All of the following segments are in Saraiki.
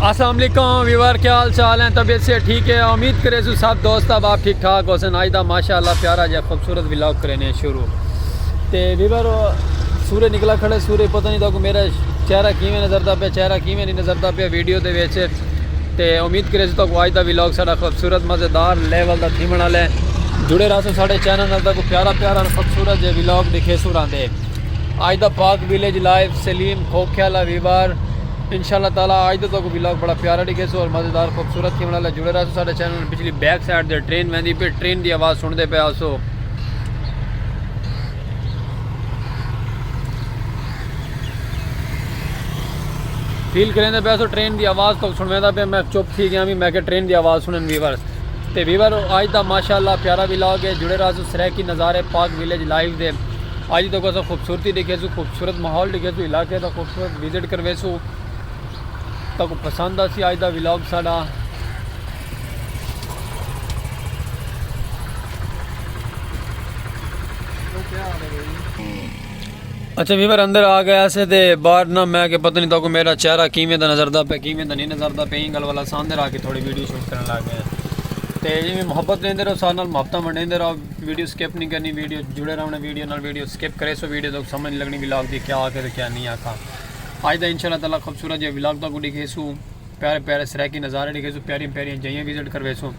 السلام علیکم ویور کیا حال چال ہیں طبیعت سے ٹھیک ہے امید کرے سو سب دوست اب آپ ٹھیک ٹھاک حسن آج دا ماشاءاللہ پیارا جا خوبصورت ولاگ کرینے شروع تے ویور سورے نکلا کھڑے سورے پتہ نہیں تاکہ میرا چہرہ کیویں نظر دا پیا چہرہ کیویں نہیں نظر دا پیا ویڈیو دے ویچے تے امید کرے سو تاکہ آج دا ولاگ ساڑا خوبصورت مزیدار لیول دا تھیمن والے جڑے رہا سو ساڑے چینل نال تاکہ پیارا پیارا خوبصورت جے ولاگ دکھے سو رہا دے آج دا پاک ویلیج لائف سلیم کھوکھے آلا ویوار انشاء اللہ تعالی آج دا تو کو ویلاگ بڑا پیارا ڈگے سو اور مزیدار خوبصورت تھی والا جڑے رہا سو ساڈے چینل پچھلی بیک سائیڈ دے ٹرین ویندی پہ ٹرین دی آواز سن دے پہ آسو فیل کریں دے پیسو ٹرین دی آواز تو سنویں دا پہ میں چپ تھی گیا بھی میں کہ ٹرین دی آواز سنن ویورز تے ویور آج دا ماشاءاللہ پیارا ویلاگ ہے جڑے راز سریکی نظارے پاک ویلیج لائیو دے اج تک اساں خوبصورتی ڈیکھیسوں خوبصورت ماحول ڈیکھیسوں علاقے دا خوبصورت وزٹ کرویسوں تکوں پسند آسی اج دا ولاگ ساڈا اچھا ویور اندر آ گیا سے تے باہر نہ میں کہ پتہ نہیں تکوں میرا چہرہ کیویں دا نظر دا پے کیویں دا نہیں نظر دا پے این گل والا ساندر آ کے تھوڑی ویڈیو شوٹ کرن لگ گئے تے جی محبت لیندے رہو سارے نال محبتاں ونڈیندے رہو ویڈیو سکپ نی کرنی ویڈیو اچ جڑے رہونڑے ویڈیو نال ویڈیو سکپ کریسو ویڈیو تہاکوں سمجھ نی لگنی ولاگ دی کیا آکھے تے کیا نی آکھاں اج دا انشاءاللہ تعالی خوبصورت جیہا ولاگ تہاکوں ڈیکھیسو پیارے پیارے سرائیکی نظارے ڈیکھیسو پیاریاں پیاریاں جاہیاں وزٹ کرویسو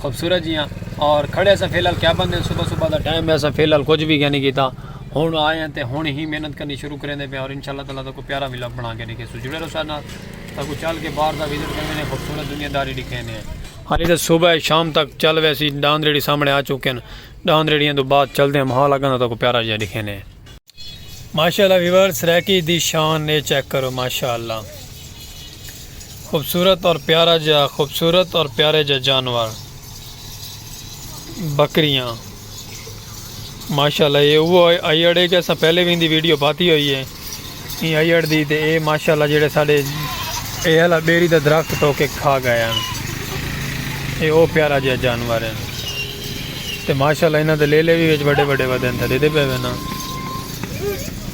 خوبصورت جیہاں اور کھڑے اساں فی الحال کیا بندے صبح صبح دا ٹائم ہے اساں فی الحال کچھ بھی کیا نہیں کیتا ہن آئے ہیں تے ہن ہی محنت کرنی شروع کریں دے پے اور انشاءاللہ تعالی تہاکوں پیارا ولاگ بنا کے ڈیکھیسو جڑے رہو سارے نال تہاکوں چل کے باہر دا وزٹ کروینے خوبصورت دنیا داری ڈیکھینے ہالی تاں صبح ہے شام تک چل ویسی ڈاند ریڑھی سامنے آ چکن ڈاند ریڑھیاں تو بعد چلدے ماحول اگاں دا تاکو پیارا جیا ڈکھے نے۔ ماشاءاللہ ویورز سرائیکی دی شان اے چیک کرو ماشاءاللہ خوبصورت اور پیارا جیا خوبصورت اور پیارے جیا جانور بکریاں۔ ماشاءاللہ یہ وہ آئی اڑے کہ اساں پہلے بھی ان دی ویڈیو پاتی ہوئی ہے یہ آئی اڑ دی تے اے ماشاءاللہ جڑے ساڑے اے ہلا بیری دا درخت تو کے کھا گئے ہیں اے او پیارا جہاں جانور ہیں تے ماشاءاللہ انہاں دے لے لے بھی ویچ بڑے بڑے ودن تھے دے دے پہ وینا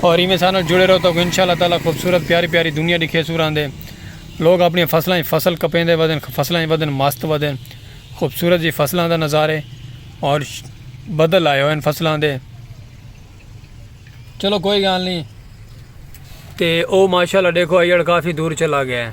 اور ایویں سانو جڑے رہو تو انشاء اللہ تعالی خوبصورت پیاری پیاری دنیا دکھے سو راندے لوگ اپنی فصلاں ہی فصل کپیندے ودن فصلاں ہی ودن مست ودن خوبصورت جی فصلاں دا نظارے اور بدل آئے ہوئے فصلاں دے چلو کوئی گال نہیں تے او ماشاءاللہ دیکھو ایڑ کافی دور چلا گیا ہے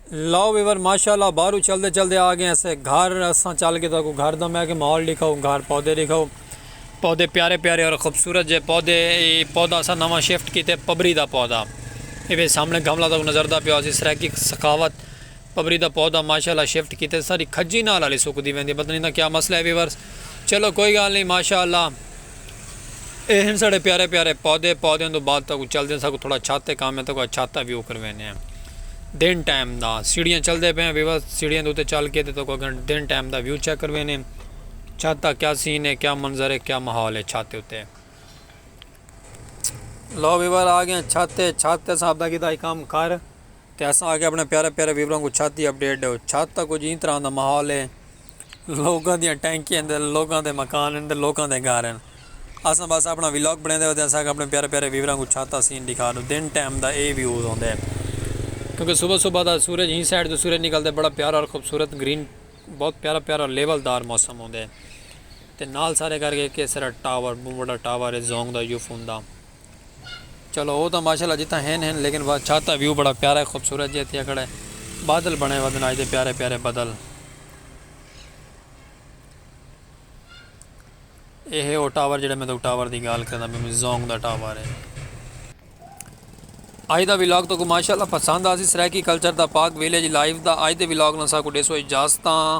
لو ویور ماشاءاللہ باہرو چلدے چلدے آ گئے اسے گھر اساں چل کے تہاکوں گھر دا میں کہ ماحول ڈکھاؤ گھر پودے ڈکھاؤ پودے پیارے پیارے اور خوبصورت جے پودے اے پودا اساں نواں شفٹ کیتے پبری دا پودا اے وے سامنے گھملا تہاکوں نظر دا پیا سی سرائیکی سخاوت پبری دا پودا ماشاءاللہ شفٹ کیتے ساڈی کھجی نال آلی سکدی ویندی پتہ نی ایندا کیا مسئلہ اے ویورز چلو کوئی گال نی ماشاءاللہ اے ہن ساڈے پیارے پیارے پودے، پودیاں توں بعد تہاکوں چلدیاں ساکوں تھوڑا چھت تے کم ہے تہاکوں اج چھت دا ویو کروینے ہیں دن ٹائم دا سیڑھیاں چلدے پئے ہیں ویوا سیڑھیاں دے اتے چل کے تے تہاکوں اگے دن ٹائم دا ویو چیک کروینے ہیں چھت دا کیا سین ہے کیا منظر ہے کیا ماحول ہے چھت دے اتے۔ لو ویور آ گئے ہیں چھت تے چھت تے اساں اپنا کیتا ہی کم کر تے اساں آ کے اپنے پیارے پیارے ویوراں کوں چھت دی اپڈیٹ ڈیو چھت دا کچھ ایں طرح دا ماحول ہے۔ لوکاں دیاں ٹینکیاں ہن تے لوکاں دے مکان ہن تے لوکاں دے گھر ہن۔ اساں بس اپݨا ویلاگ بݨیندے ہوندے اساکوں اپݨے پیارے پیارے ویوراں کوں چھت دا سین ݙکھا ݙو۔ دن ٹائم دا ایہی ویوز ہوندے ہن۔ کیونکہ صبح صبح دا سورج ہی سائیڈ توں سورج نکلدے بڑا پیارا اور خوبصورت گرین بہت پیارا پیارا اور لیول دار موسم ہوندے۔ تے نال سارے کر کے کیسرا ٹاور بہوں وݙا ٹاور ہے زونگ دا یوفون دا۔ چلو او تاں ماشاءاللہ جتھاں ہن ہن لیکن وا چھت دا ویو بڑا پیارا ہے خوبصورت جیہا تھیا کھڑا ہے بادل بنے ودن اج دے پیارے پیارے بدل اے ہے او ٹاور جیہڑا میں تاکوں ٹاور دی گال کریندا پیا میں زونگ دا ٹاور ہے۔ اج دا ولاگ تاکوں ماشاءاللہ پسند آسی سرائیکی کلچر دا پاک ویلیج لائف دا اج دے ولاگ نال ساکوں ڈیسو اجازتاں۔